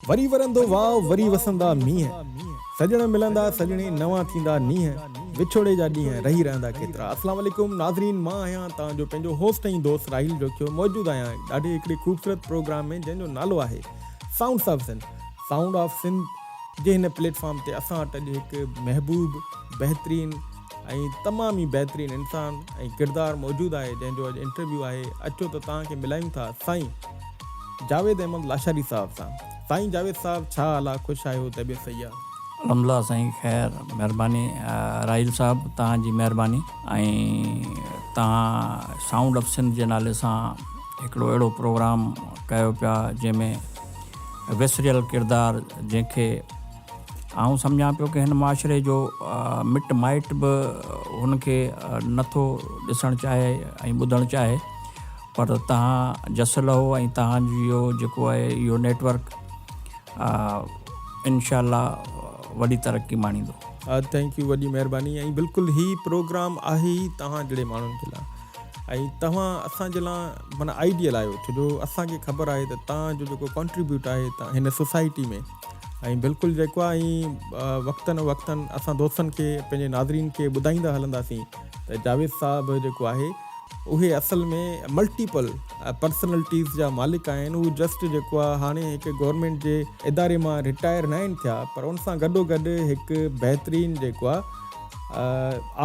وري ورندو واء وري وسندا مينهن سڄڻ ملندا سڄڻي نوان ٿيندا نينهن وڇوڙي جا ڏينهن رهي رهندا ڪيترا السلام عليڪم ناظرين مان آهيان توهان جو پنهنجو هوسٽ ۽ دوست راحيل جوکيو موجود آهيان ڏاڍي هڪڙي خوبصورت پروگرام ۾ جنهن جو نالو آهي sounds of Sindh Sound of Sindh جي هن پليٽ فارم تي اسان وٽ اڄ هڪ محبوب بهترين ۽ تمام ئي بهترين انسان ۽ ڪردار موجود آهي جنهن جو اڄ انٽرويو آهي اچو ته توهان کي ملايون ٿا سائين جاويد احمد لاشاري صاحب سان سائين جاويد صاحب ڇا حال آ خوش آهيو طبيعت صحيح آ. الحمدلله سائين خير مھرباني راحيل صاحب توھان جي مھرباني ۽ توھان سائونڊ آف سنڌ جي نالي سان ھڪڙو اھڙو پروگرام ڪيو پيا جنھن ۾ وسريل ڪردار جنھن کي آئون سمجهان پيو ڪه هن معاشري جو مٽ مائٽ به هن کي نه ٿو ڏسڻ چاهي ۽ ٻڌڻ چاهي پر تهان جس لهو ۽ تهان جو جيڪو آهي اهو نيٽ ورڪ انشاء الله وڏي ترقي ماڻيندو. ٿينڪ يو وڏي مهرباني ۽ بلڪل هي پروگرام آهي ئي توهان جهڙي ماڻهن جي لا۽ توهان اسان جي لا معنيٰ آئيڊيل آهيو ڇو جو اسان کي خبر آهي ته توهان جو جيڪو ڪانٽريبيوٽ آهي هن سوسائٽي ۾ ۽ بلڪل جيڪو آ ائين وقتن و وقتن اسان دوستن کي پنهنجي ناظرين کي ٻڌائيندا هلنداسين ته جاويد صاحب جيڪو آهي اهي اصل ۾ ملٽيپل پرسنلٽيز جا مالڪ آهن هو جسٽ جيڪو آ هاڻي هڪ گورنمينٽ جي اداري مان رٽائر نه آهن ٿيا پر ان سان گڏو گڏ هڪ بهترين جيڪو آ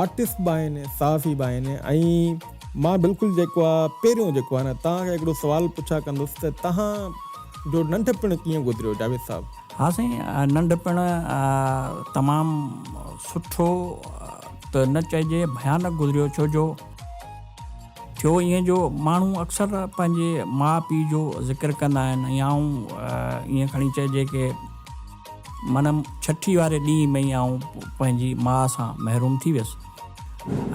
آرٽسٽ به آهن صحافي به آهن ۽ مان بلڪل جيڪو آ پهريون جيڪو آ نه توهان کي هڪڙو سوال پڇا ڪندس ته توهان جو ننڍپڻ ڪيئن گذريو جاويد صاحب. ها سائين ننڍپڻ تمام سٺو ته نه چئجي ڀيانڪ گذريو ڇو جو ٿيو ائين جو ماڻهو اڪثر پنهنجي ماء پيء جو ذڪر ڪندا آهن ۽ آئون ائين کڻي چئجي ڪي من ڇٺي واري ڏينهن ۾ ئي آئون پنهنجي ماء سان محروم ٿي ويس.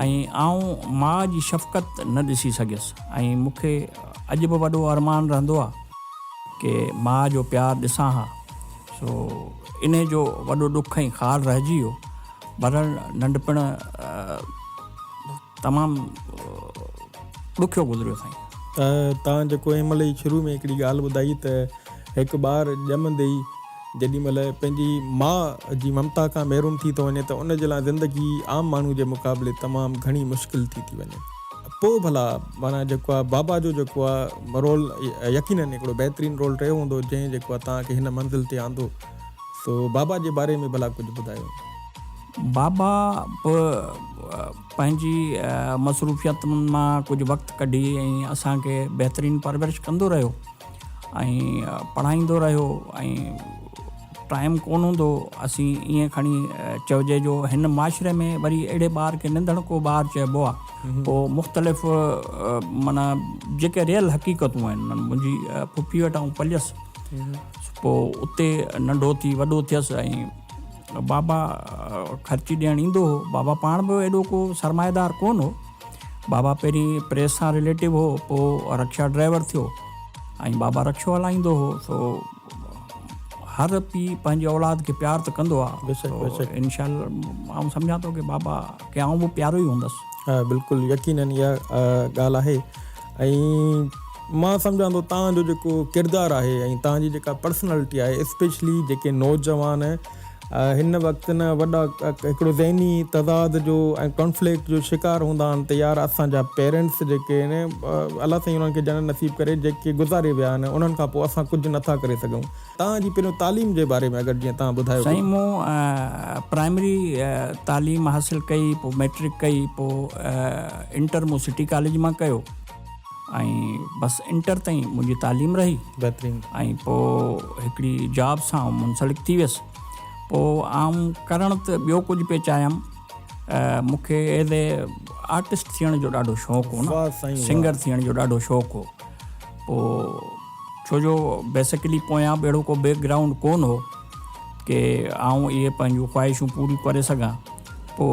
۽ آئون ماء جي شفقت نه ڏسي سگهيس ۽ مون کي اڄ به وڏو ارمان رهندو آ ڪي ماء جو پيار ڏسان ها سو انهي جو وڏو ڏک ۽ خار رهجي ويو برحل ننڍپڻ تمام ڏکيو گذريو سائين. تان جيڪو ايم ال اي شروع ۾ هڪڙي ڳالهه ٻڌائي ته هڪ ٻار ڄمندي ئي جيڏي مهل پنهنجي ماء جي ممتا کان محروم ٿي ٿو وڃي ته ان جي لاء زندگي عام ماڻهو جي مقابلي تمام گهڻي مشڪل ٿي ٿي وڃي. پوء ڀلا معنيٰ جيڪو آهي بابا جو جيڪو آهي رول يقينن هڪڙو بهترين رول رهيو هوندو جنهن جيڪو آهي توهان کي هن منزل تي آندو سو بابا جي باري ۾ ڀلا ڪجهه ٻڌايو. بابا به پنهنجي مصروفيتن مان ڪجهه وقت ڪڍي ۽ اسان کي بهترين پرورش ڪندو رهيو. ۽ پڙهائيندو رهيو ۽ ٽائيم ڪونه هوندو اسين ائين کڻي چئجي جو هن معاشري ۾ وري اهڙي ٻار کي ننڌڻ ڪو ٻار چئبو آهي پوء مختلف معنيٰ جيڪي ريل حقيقتون آهن منهنجي پڦي وٽ آئون پليس پوء اتي ننڍو ٿي وڏو ٿيس ۽ بابا خرچي ڏيڻ ايندو هو بابا پاڻ به ايڏو ڪو سرمائيدار ڪونه هو بابا پهرين پريس سان رليٽو هو پوء رڪشا ڊرائيور ٿيو ۽ بابا رڪشو هلائيندو هو سو هر پي پنهنجي اولاد کي پيار ته ڪندو آهي انشاء الله آئون سمجهان ٿو ڪي بابا کي آئون به پيارو ئي هوندس ها بلڪل يقينن اها ڳالهه آهي ۽ مان سمجهان ٿو تهان جو جيڪو ڪردار آهي ۽ تهان جي جيڪا پرسنالٽي آهي اسپيشلي جيڪي نوجوان هن وقت نه وڏا هڪڙو ذهني تضاد جو ۽ ڪانفليڪٽ جو شڪار هوندا آهن ته يار اسان جا پيرنٽس جيڪي آهن الله سائين انهن کي جنت نصيب ڪري جيڪي گذاري ويا آهن انهن کان پوء اسان ڪجهه نٿا ڪري سگهون تان جي پنهنجو تعليم جي باري ۾ اگر جيئن تان ٻڌايو سائين مون پرائمري تعليم حاصل ڪئي پوء ميٽرڪ ڪئي پوء انٽر مون سٽي ڪاليج مان ڪيو ۽ بس انٽر تائين منهنجي تعليم رهي بهترين ۽ پو هڪڙي جاب سان منسلڪ ٿي ويس پو عام ڪرڻ ته ٻيو ڪجهه پي چاهيم مونکي ايز اي آرٽسٽ ٿيڻ جو ڏاڍو شوق هو نه سنگر ٿيڻ جو ڏاڍو شوق هو پو ڇو جو بيسڪلي پويان به اهڙو ڪو بيڪ گرائونڊ ڪون هو ڪي آئون اهي پنهنجون خواهشون پوريون ڪري سگهان پو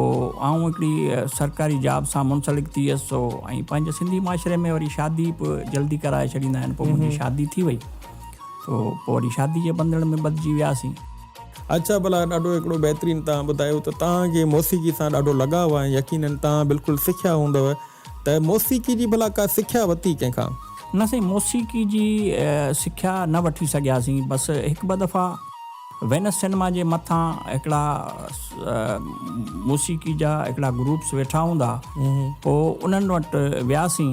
آئون هڪڙي سرڪاري جاب سان منسلڪ ٿي ويس سو ۽ پنهنجي سنڌي معاشري ۾ وري شادي به جلدي ڪرائي ڇڏيندا آهن پو منهنجي شادي ٿي وئي سو پو وري شادي جي بندڻ ۾ ٻڌجي وياسين اچا ڀلا ڏاڍو هڪڙو بهترين تان ٻڌايو ته تان کي موسيقي سان ڏاڍو لڳاء آهي يقينن تان بلڪل سکيا هوندو ته موسيقي جي ڀلا ڪا سکيا وتي ڪنهن کان؟ نه سائين موسيقي جي سکيا نه وٺي سگهياسين بس هڪ ٻه دفعا وينس سينما جي مٿان هڪڙا موسيقي جا هڪڙا گروپس ويٺا هوندا پوء انهن وٽ وياسين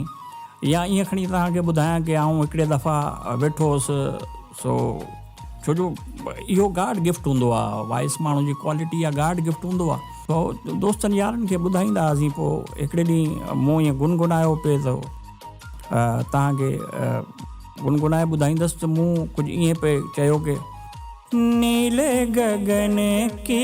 يا ائين کڻي توهان کي ٻڌايان ڪي آئون هڪڙي دفعا ويٺو هوس سو ڇو جو اهو گاڊ گفٽ هوندو آ وائس ماڻهو جي ڪوالٽي آ گاڊ گفٽ هوندو آ سو دوستن يارن کي ٻڌائيندا هئاسين پو هڪڙي ڏينهن مون ائين گنگنايو پي ته توهان کي گنگنائي ٻڌائيندس ته مون ڪجهه ائين پي چيو ڪي نيل گگن ڪي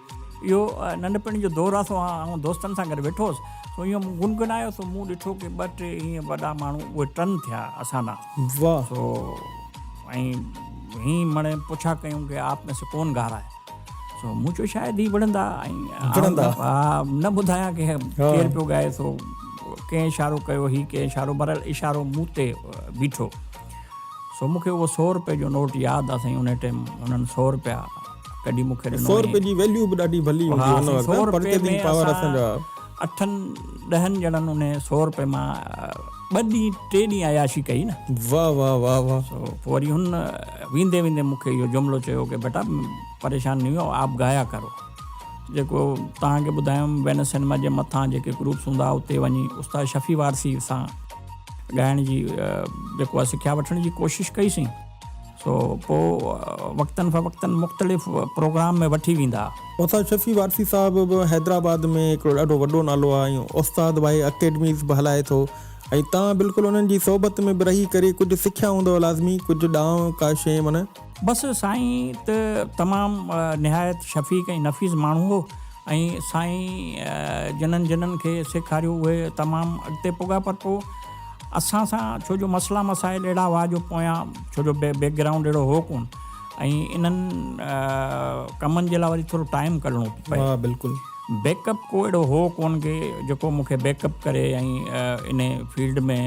اهو ننڍپڻ جو دور آهي سو آئون دوستن سان گڏ ويٺو هوس سو ايئن مون گنگنايو سو مون ڏٺو ڪي ٻه ٽي ايئن وڏا ماڻهو اهي ٽن ٿيا اسان ڏانهن واهه سو ۽ هين مڙي پڇا ڪيون ڪي آپ ۾ سي ڪون گا رها هي سو مون چيو شايد هي وڙهندا ۽ وڙهندا ها نه ٻڌايان ڪي ڪير پيو ڳائي سو ڪنهن اشارو ڪيو هي ڪنهن اشارو برحال اشارو مون تي بيٺو سو مون کي اهو سؤ روپيه جو نوٽ ياد آهي سائين ان ٽيم انهن سؤ روپيا ڪڍي مون کي ڏنو هيئن. سؤ روپئي جي ويليو به ڏاڍي ڀلي هوندي هئي ان وقت. سؤ روپئي ۾ اسان اٺن ڏهن ڄڻن ان سؤ روپئي مان ٻه ڏينهن ٽي ڏينهن عياشي ڪئي نه. واه واه واه واه. سو پوء وري هن ويندي ويندي مون کي اهو جملو چيو ڪي بيٽا پريشان نهي هو آپ گايا ڪرو. جيڪو توهان کي ٻڌايم وينس سينما جي مٿان جيڪي گروپس هوندا اتي وڃي استاد شفيع وارثي سان ڳائڻ جي جيڪو آهي سکيا وٺڻ جي ڪوشش ڪئي سين. سو پوء وقتن فوقتن مختلف پروگرام ۾ وٺي ويندا. استاد شفيع وارثي صاحب به حيدرآباد ۾ هڪڙو ڏاڍو وڏو نالو آهي ۽ استاد واهي اڪيڊميز به هلائي ٿو ۽ توهان بلڪل انهن جي صحبت ۾ به رهي ڪري ڪجهه سکيا هوندؤ لازمي ڪجهه ڏانء ڪا شيء من. بس سائين ته تمام نهايت شفيق ۽ نفيس ماڻهو هو ۽ سائين جنن جنن کي سيکاريو اهي تمام اڳتي پڳا پر پوء اسان سان ڇو جو مسئلا مسائل اهڙا هئا جو پويان ڇو جو بيڪ گرائونڊ اهڙو هو ڪون ۽ انهن ڪمن جي لاء وري ٿورو ٽائيم ڪڍڻو پئي ها بلڪل بيڪ اپ ڪو اهڙو هو ڪون کي جيڪو مون کي بيڪ اپ ڪري ۽ ان فيلڊ ۾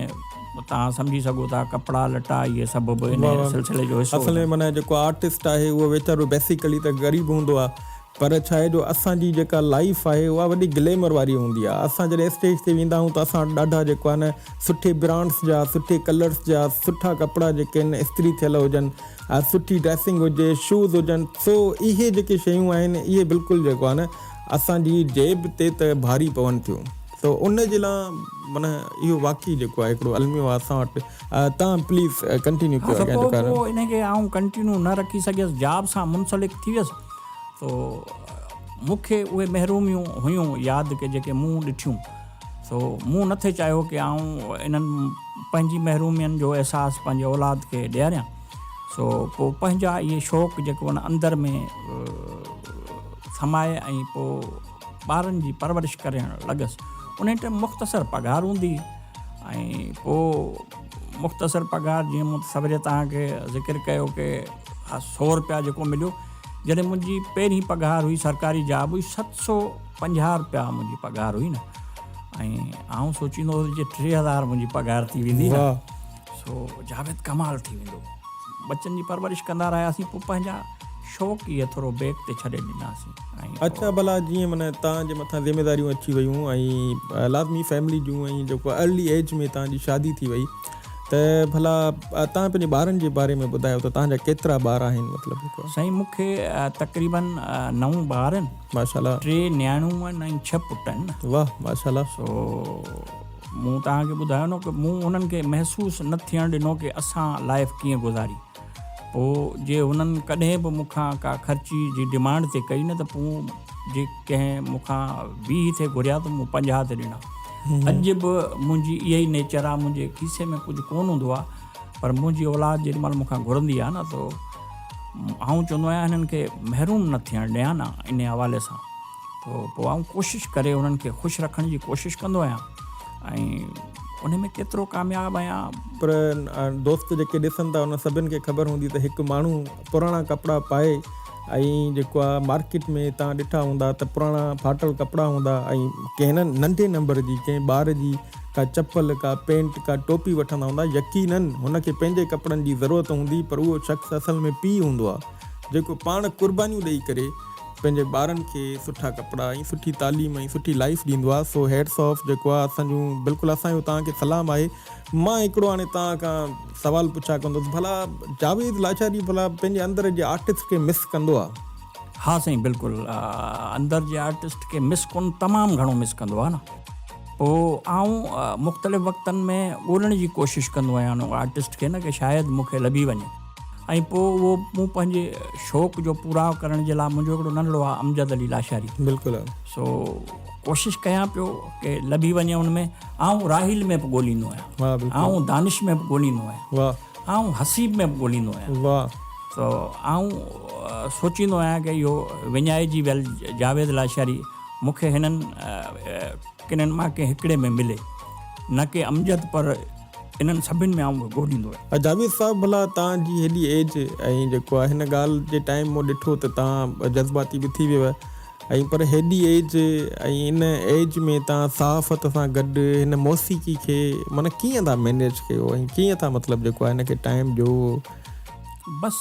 تان سمجهي سگهو ٿا ڪپڙا لٽا اهي سڀ به ان سلسلي جو حصو اصل ۾ معنيٰ جيڪو آرٽسٽ آهي اهو ويچارو بيسيڪلي ته غريب هوندو آهي پر ڇا آهي جو اسان جي جيڪا لائيف آهي اها وڏي گليمر واري هوندي آهي اسان جڏهن اسٽيج تي ويندا آهيون ته اسان وٽ ڏاڍا جيڪو آهي نه سٺي برانڊس جا سٺي ڪلرس جا سٺا ڪپڙا جيڪي آهن استري ٿيل هجن ها سٺي ڊريسنگ هجي شوز هجن سو اهي جيڪي شيون آهن اهي بلڪل جيڪو آهي نه اسان جي جيب تي ته ڀاري پون ٿيون سو ان جي لا معنيٰ اهو واقعي جيڪو آهي هڪڙو الميو آهي اسان وٽ تان پليز ڪنٽينيو ڪيو اڳيان جيڪو آهي نه. سو پوء ان کي آئون ڪنٽينيو نه رکي سگهيس جاب سان منسلڪ ٿي ويس. سو مون کي اهي محروميون هيون ياد ڪي جيڪي مون ڏٺيون سو مون نٿي چاهيو ڪي آئون انهن پنهنجي محرومين جو احساس پنهنجي اولاد کي ڏياريان سو پوء پنهنجا اهي شوق جيڪو ان اندر ۾ سمائي ۽ پوء ٻارن جي پرورش ڪرڻ لڳس ان ٽائم مختصر پگهار هوندي ۽ پوء مختصر پگهار جيئن مون سويري تان کي ذڪر ڪيو ڪي اھا سؤ رپيا جيڪو مليو جڏھن منھنجي پهرين پگهار هئي سرڪاري جاب هئي ست سؤ پنجاهه رپيا منھنجي پگهار هئي نه ۽ آئون سوچيندو هوس جي ٽي هزار منھنجي پگهار ٿي ويندي نه سو جاويد ڪمال ٿي ويندو بچن جي پرورش ڪندا رهياسين پوء پنھنجا شوق ئي ٿورو بيڪ تي ڇڏي ڏناسين ۽ اچا ڀلا جيئن من تان جي مٿان ذميداريون اچي ويون ۽ لازمي فيملي جون ۽ جيڪو ارلي ايج ۾ تان جي شادي ٿي وئي ته ڀلا تان پنهنجي ٻارن جي باري ۾ ٻڌايو ته تان جا ڪيترا ٻار آهن مطلب سائين مون کي تقريبن نو ٻار آهن ماشاءالله ٽي نياڻيون آهن ۽ ڇهه پٽ آهن واه ماشاءالله سو مون تان کي ٻڌايو نه ته مون انهن کي محسوس نه ٿيڻ ڏنو ڪي اسان لائف ڪيئن گذاري پوء جي هنن ڪڏهن به مون کان ڪا خرچي جي ڊمانڊ تي ڪئي نه ته پوء جي ڪنهن مون کان ويهه ٿي گهريا ته مون پنجاهه تي ڏنا. اڄ به منهنجي اها ئي نيچر آهي، منهنجي کيسي ۾ ڪجهه ڪونه هوندو آهي پر منهنجي اولاد جيڏي مهل مون کان گهرندي آهي نه ته آئون چوندو آهيان هنن کي محروم نه ٿيڻ ڏيان آن ان حوالي سان. ٿو پوء آئون ڪوشش ڪري انهن کي خوش رکڻ جي ڪوشش ڪندو آهيان ۽ ان ۾ ڪيترو ڪامياب آهيان پر دوست جيڪي ڏسن ٿا ان سڀن کي خبر هوندي ته هڪ ماڻهو پراڻا ڪپڙا پائي ۽ جيڪو آهي مارڪيٽ ۾ تان ڏٺا هوندا ته پراڻا ڦاٽل ڪپڙا هوندا ۽ ڪنهن ننڍي نمبر جي ڪنهن ٻار جي ڪا چپل ڪا پينٽ ڪا ٽوپي وٺندا هوندا يقينا هن کي پنهنجي ڪپڙن جي ضرورت هوندي پر اهو شخص اصل ۾ پيء هوندو آهي جيڪو پاڻ قربانيون ڏئي ڪري پنهنجي ٻارن کي سٺا ڪپڙا ۽ سٺي تعليم ۽ سٺي لائيف ڏيندو آ سو هيٽس آف جيڪو آ اسان جون بلڪل اسان جو توهان کي سلام آهي مان هڪڙو هاڻي توهان کان سوال پڇا ڪندس ڀلا جاويد لاچاري ڀلا پنهنجي اندر جي آرٽسٽ کي مس ڪندو آ. ها سائين بلڪل اندر جي آرٽسٽ کي مس ڪون تمام گهڻو مس ڪندو آ نه پو آئون مختلف وقتن ۾ ڳولڻ جي ڪوشش ڪندو آهيان ان آرٽسٽ کي نه ڪي شايد مون کي لڀي وڃي. ۽ پوء اهو مون پنهنجي شوق جو پوراء ڪرڻ جي لاء منهنجو هڪڙو ننڍڙو آهي امجد علي لاشاري بلڪل سو ڪوشش ڪيان پيو ڪي لڀي وڃي ان ۾ آئون راحيل ۾ به ڳوليندو آهيان آئون دانش ۾ به ڳوليندو آهيان آئون حسيب ۾ به ڳوليندو آهيان سو آئون سوچيندو آهيان ڪي اهو وڃائي جي ويل جاويد لاشاري مون کي هنن ڪنن مان ڪنهن هڪڙي ۾ ملي نه ڪي امجد پر انهن سڀن ۾ آئون وڳو ڏيندو آهيان. جاويد صاحب ڀلا توهان جي هيڏي ايج ۽ جيڪو آهي هن ڳالهه جي ٽائيم مون ڏٺو ته توهان جذباتي به ٿي ويو ۽ پر هيڏي ايج ۽ ان ايج ۾ توهان صحافت سان گڏ هن موسيقي کي معنيٰ ڪيئن ٿا مينيج ڪيو ۽ ڪيئن ٿا مطلب جيڪو آهي هن کي ٽائيم ڏيو. بس.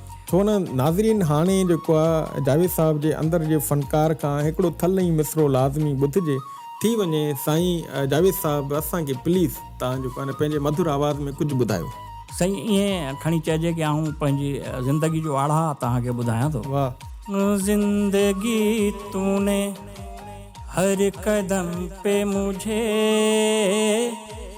ڇو نه ناظرين هاڻي جيڪو آ جاويد صاحب جي اندر جي فنڪار کان هڪڙو ٿل ۽ مصرعو لازمي ٻڌجي ٿي وڃي سائين جاويد صاحب اسان کي پليز تان جيڪو آ پنهنجي مڌر آواز ۾ ڪجهه ٻڌايو. سائين ائين کڻي چئجي ڪي آئون پنهنجي زندگي جو آڙها تان کي ٻڌايان ٿو. واھ. زندگي تون ني هر قدم پي مجهي.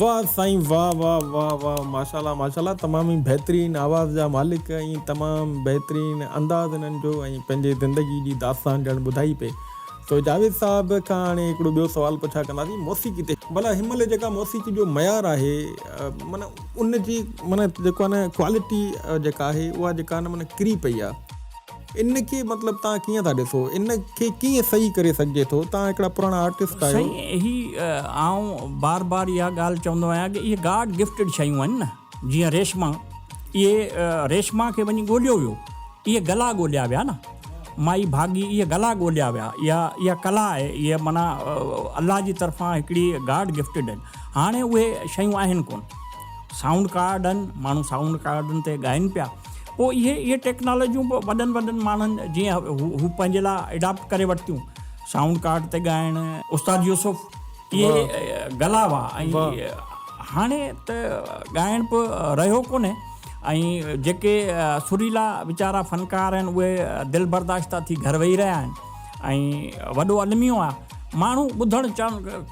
واه سائين واه واه واه واه ماشاءالله ماشاءالله تمام ئي بهترين آواز جا مالڪ ۽ تمام بهترين انداز انهن جو ۽ پنهنجي زندگي جي داستان ڄڻ ٻڌائي پئي سو جاويد صاحب کان هاڻي هڪڙو ٻيو سوال پڇا ڪنداسين موسيقي تي ڀلا هن مهل جيڪا موسيقي جو معيار آهي معنيٰ ان جي معنيٰ جيڪو آهي نه ڪوالٽي جيڪا آهي اها جيڪا آهي نه معنيٰ ڪري پئي آهي ان کي مطلب توهان ڪيئن ٿا ڏسو ان کي ڪيئن صحيح ڪري سگهجي ٿو توهان هڪڙا پراڻا آرٽسٽ آهيو. سائين هي آئون بار بار اها ڳالهه چوندو آهيان ڪه اهي گاڊ گفٽيڊ شيون آهن نه جيئن ريشما اهي ريشما کي وڃي ڳوليو ويو اهي گلا ڳوليا ويا نه مائي ڀاڳي اهي گلا ڳوليا ويا اها اها ڪلا آهي اهي معنيٰ الله جي طرفان هڪڙي گاڊ گفٽيڊ آهن هاڻي اهي شيون آهن ڪونه. سائونڊ ڪارڊ آهن، ماڻهو سائونڊ ڪارڊن تي ڳائين پيا، پوء اهي اهي ٽيڪنالاجيون به وڏن وڏن ماڻهن جيئن هو پنهنجي لاء اڊاپٽ ڪري ورتيون، سائونڊ ڪارڊ تي ڳائڻ. استاد يوسف اهي گلا هئا ۽ هاڻي ته ڳائڻ به رهيو ڪونهي ۽ جيڪي سريلا ويچارا فنڪار آهن اهي دلبرداشته ٿي گهر ويهي رهيا آهن ۽ وڏو الميو آهي. ماڻهو ٻڌڻ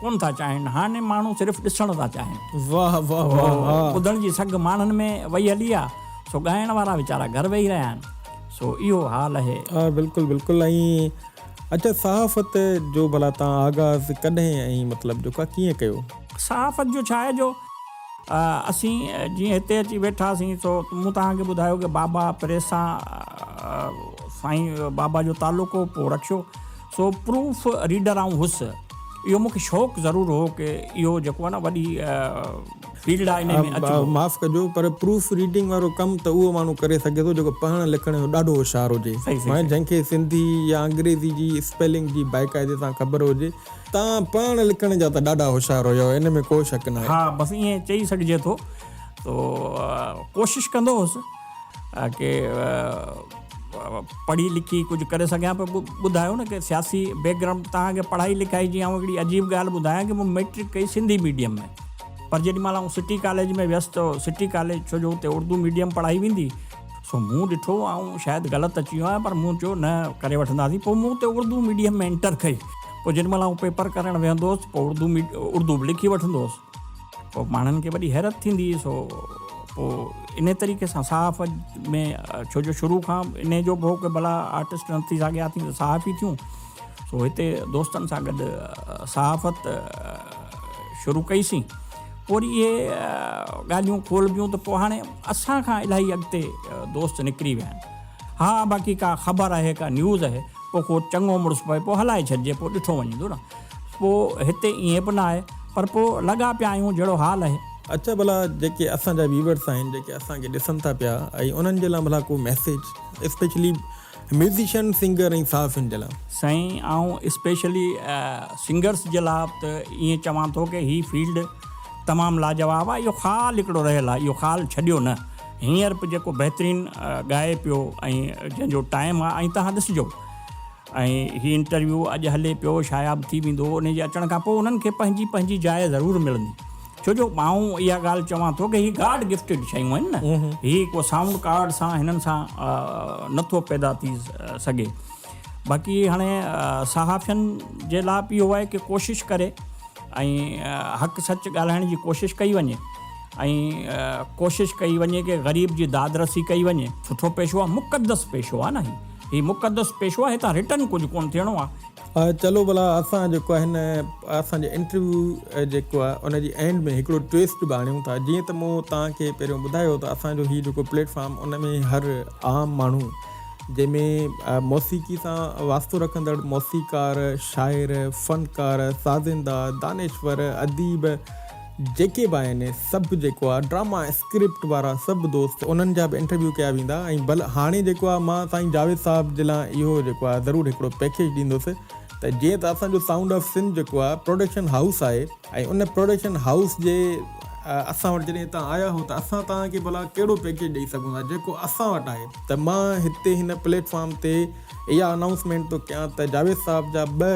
ڪونه ٿا چاهين، هاڻي ماڻهو صرف ڏسڻ ٿا چاهين. واهه واهه واهه واهه. سو ٻڌڻ جي سگهه ماڻهن ۾ وئي هلي آ، سو ڳائڻ وارا ويچارا گهر ويهي رهيا آهن. سو اهو حال اهي. ها بلڪل بلڪل ائين اچا صحافت جو ڀلا تان آغاز ڪڏهن ۽ مطلب جو ڪا ڪيئن ڪيو؟ صحافت جو ڇا اهي جو اسين جيئن هتي اچي ويٺا سين سو مون تهان کي ٻڌايو ڪي بابا پريس سان سائين بابا جو تعلق هو پو رڪشو سو پروف ريڊر آئون هوس اهو مونکي شوق ضرور هو ڪي اهو جيڪو آهي نه وڏي فيلڊ آهي انهي ۾ اچبو. معاف ڪجو پر پروف ريڊنگ وارو ڪم ته اهو ماڻهو ڪري سگهي ٿو جيڪو پڙهڻ لکڻ جو ڏاڍو هوشيار هجي ۽ جنهن کي سنڌي يا انگريزي جي اسپيلنگ جي باقاعدي سان خبر هجي. توهان پڙهڻ لکڻ جا ته ڏاڍا هوشيار هيو انهي ۾ ڪو شڪ ناهي. ها بس ائين چئي سگهجي ٿو. تو ڪوشش ڪندو هوس. ڪي پڙهي لکي ڪجهه ڪري سگهيان پيو ٻڌايو نه ڪي سياسي بيڪ گرائونڊ تهان کي پڙهائي لکائي جي آئون هڪڙي عجيب ڳالهه ٻڌايان ڪي مون ميٽرڪ ڪئي سنڌي ميڊيم ۾ پر جيڏي مهل آئون سٽي ڪاليج ۾ ويس ته سٽي ڪاليج ڇو جو اتي اردو ميڊيم پڙهائي ويندي سو مون ڏٺو آئون شايد غلط اچي ويو آهيان پر مون چيو نه ڪري وٺنداسين پوء مون اتي اردو ميڊيم ۾ انٽر ڪئي پوء جيڏي مهل آئون پيپر ڪرڻ ويهندو هوس پوء اردو اردو به لکي وٺندو هوس پوء ماڻهن کي وڏي حيرت ٿيندي سو پوء انهي طريقي سان صحاف ۾ ڇو جو شروع کان انهي جو به هو ڪي ڀلا آرٽسٽ نه ٿي سگهيا ٿي ته صحافي ٿيون سو هتي دوستن سان گڏ صحافت شروع ڪئي سين پوء وري اهي ڳالهيون کولبيون ته پوء هاڻي اسان کان الاهي اڳتي دوست نڪري ويا آهن ها باقي ڪا خبر آهي ڪا نيوز آهي پو ڪو چڱو مڙس پوي پو هلائي ڇڏجي پو ڏٺو وڃيندو نه پو هتي ائين به نه آهي پر پو لڳا پيا آهيون جهڙو حال آهي. اچا ڀلا جيڪي اسان جا ويورس آهن جيڪي اسان کي ڏسن ٿا پيا ۽ انهن جي لا ڀلا ڪو ميسيج اسپيشلي ميوزيشن سنگر ۽ صحافين جي لا. سائين آئون اسپيشلي سنگرس جي لا ته ائين چوان ٿو ڪي هي فيلڊ تمام لاجواب آهي اهو خال هڪڙو رهيل آهي اهو خال ڇڏيو نه. هينئر به جيڪو بهترين ڳائي پيو ۽ جنهن جو ٽائيم آهي ۽ توهان ڏسجو ۽ هي انٽرويو اڄ هلي پيو شاياب ٿي ويندو ان جي اچڻ کان پوء انهن کي پنهنجي پنهنجي جاء ضرور ملندي ڇو جو ماون اها ڳالهه چوان ٿو ڪي هي گاڊ گفٽيڊ شيون آهن نه هي ڪو سائونڊ ڪارڊ سان هنن سان نه ٿو پيدا ٿي سگهي باقي هاڻي صحافين جي لاء به اهو آهي ڪي ڪوشش ڪري ۽ حق سچ ڳالهائڻ جي ڪوشش ڪئي وڃي ۽ ڪوشش ڪئي وڃي ڪي غريب جي داد رسي ڪئي وڃي سٺو پيشو آ مقدس پيشو آ نه هي مقدس پيشو آ هتان رٽن ڪجهه ڪون ٿيڻو آ. چلو ڀلا اسان جيڪو آهي نه اسان جي انٽرويو جيڪو آ ان جي اينڊ ۾ هڪڙو ٽويسٽ به آڻيون ٿا جيئن ته مون توهان کي پهريون ٻڌايو ته اسان جو هي جيڪو پليٽ فارم ان ۾ هر عام ماڻهو جنهن ۾ موسيقي سان واسطو رکندڙ موسيقار شاعر فنڪار سازنده دانشور اديب جيڪي به آهن سڀ جيڪو آ ڊراما اسڪرپٽ وارا سڀ دوست انهن جا به انٽرويو ڪيا ويندا ۽ بل هاڻي جيڪو آ مان سائين جاويد صاحب جي لا اهو جيڪو آ ضرور هڪڙو پيڪيج ڏيندس ته جيئن ته اسان جو سائونڊ آف سنڌ جيڪو آ پروڊڪشن هائوس آهي ۽ ان پروڊڪشن هائوس جي اسان وٽ جڏهن هتان آيا هو ته اسان توهان کي ڀلا ڪهڙو پيڪيج ڏئي سگهون ٿا جيڪو اسان وٽ آهي ته مان هتي هن پليٽ فارم تي اها انائونسمينٽ ٿو ڪيان ته جاويد صاحب جا ٻه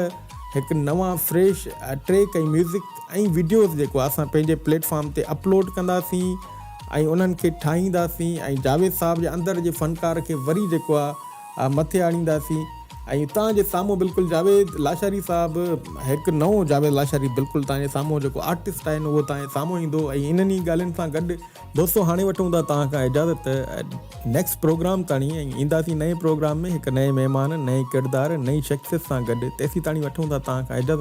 هڪ نوان فريش ٽريڪ ۽ ميوزڪ ۽ وڊيوز جيڪو اسان پنهنجي پليٽ فارم تي اپلوڊ ڪنداسين ۽ انهن کي ٺاهينداسين ۽ جاويد صاحب جي اندر جي فنڪار کي وري جيڪو آهي مٿي آڻينداسين ۽ توهان جي سامهون بلڪل جاويد لاشاري صاحب هڪ نئون جاويد لاشاري بلڪل توهان جي سامهون جيڪو آرٽسٽ آهن اهو توهان جي سامهون ايندو ۽ انهن ئي ڳالهين سان گڏ دوستو هاڻي وٺون ٿا توهان کان اجازت نيڪسٽ پروگرام تاڻي ۽ اينداسين نئين پروگرام ۾ هڪ نئين مهمان نئين ڪردار نئين شخصيت سان گڏ تيسين تاڻي وٺون ٿا توهان کان اجازت